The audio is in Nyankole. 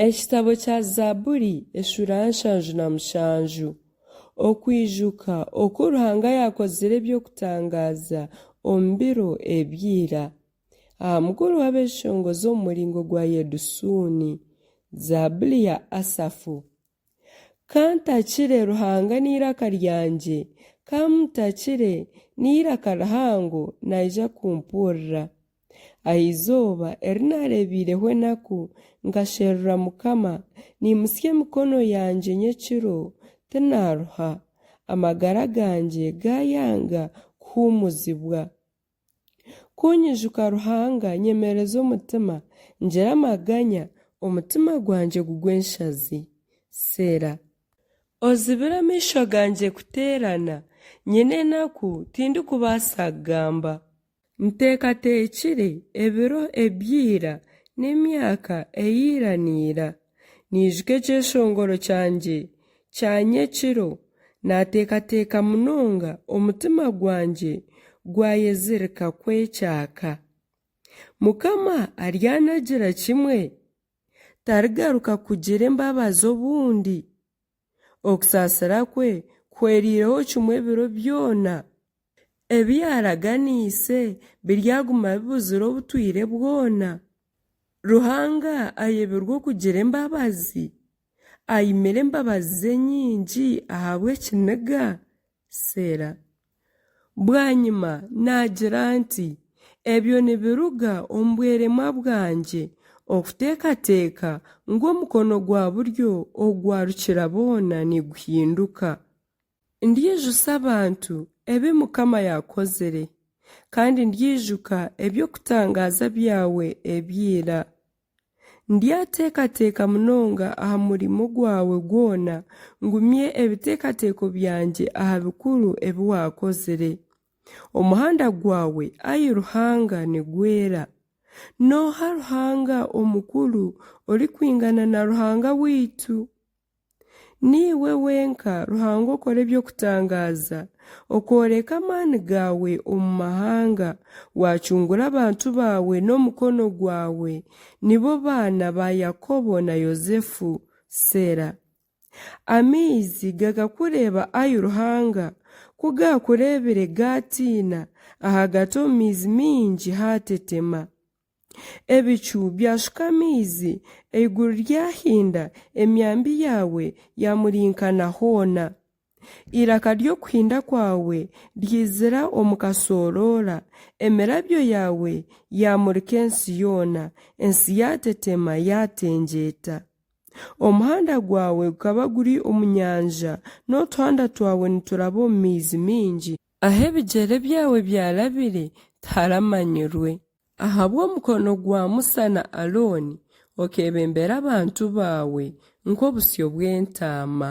Ekitabo kya Zaaburi eshuura ya nshanju na mushanju. Okwijuka oku Ruhanga yaakozire eby'okutangaaza omu biro ebya ira, aha mugoroba ab'eshongozi omu muringo gwa Yedusuuni. Zaaburi ya Asafu. Ka ntakire Ruhanga n'eiraka ryangye, ka mutakire n'eiraka rihango naija kumpurira. Aha izooba eri naareebeireho enaku, nkasherura Mukama, niimutsya emikono yangye nyekiro, tinaaruha. Amagara gangye gaayanga kuhuumuzibwa. Ku nyijuka Ruhanga nyemereza omutima, ngira amaganya, omutima gwangye gugwa enshazi. Sera. Ozibire amaisho gangye kuteerana, nyine enaku tindikubaasa kugamba. Nteekateekire ebiro ebya ira, n'emyaka eya ira na ira. Naijuka ekyeshongoro kyangye kya nyekiro, naateekateeka munonga, omutima gwangye gwayezirika kwekyaka. Mukama aryanagira kimwe? Tarigaruka kugira embabazi obundi? Okusaasira kwe kuhweriireho kimwe ebiro byona. Ebi yaaraganiise biryaguma bibuzire obutwire bwona. Ruhanga ayebirwe okugira embabazi? Aimire embabazi ze nyingi ahabw'ekiniga? Sera. Bwanyima naagira nti, Ebyo nibiruga omu bweremwa bwangye okuteekateeka ngu omukono gwa buryo ogwa Rukiraboona niguhinduka. Ndyijusa abantu ebi Mukama yaakozire, kandi ndyijuka eby'okutangaaza byawe eby'eira. Ndyateekateeka munonga aha murimo gwawe gwona, ngumye ebiteekateeko byangye aha bikuru ebi waakozire. Omuhanda gwawe, ai Ruhanga, nigwera. Nooha Ruhanga omukuru orikwingana na Ruhanga waitu? Niiwe wenka Ruhanga okora eby'okutangaaza, okooreka amaani gaawe omu mahanga, waacungura abantu baawe n'omukono gwawe, nibo baana ba Yakobo na Yosefu. Sera. Amaizi gakakureeba ai Ruhanga, ku gaakureebire gaatiina, ahagati omu maizi maingi haatetema. Ebicu byashuka amaizi, eiguru ryahinda, emyambi yaawe yaamurinkana hoona. Eiraka ry'okuhinda kwawe ryaizira omu kashooroora, emirabyo yaawe yaamurika ensi yoona, ensi yaateteema yaatengyeeta. Omuhanda gwawe gukaba guri omu nyanja, n'otuhanda twawe nituraba omu maizi maingi. Ahu ebigyere byawe byarabire tiharamanyirwe. Ahabw'omukono gwa Musa na Arooni, okeebembera abantu baawe nk'obusyo bw'entaama.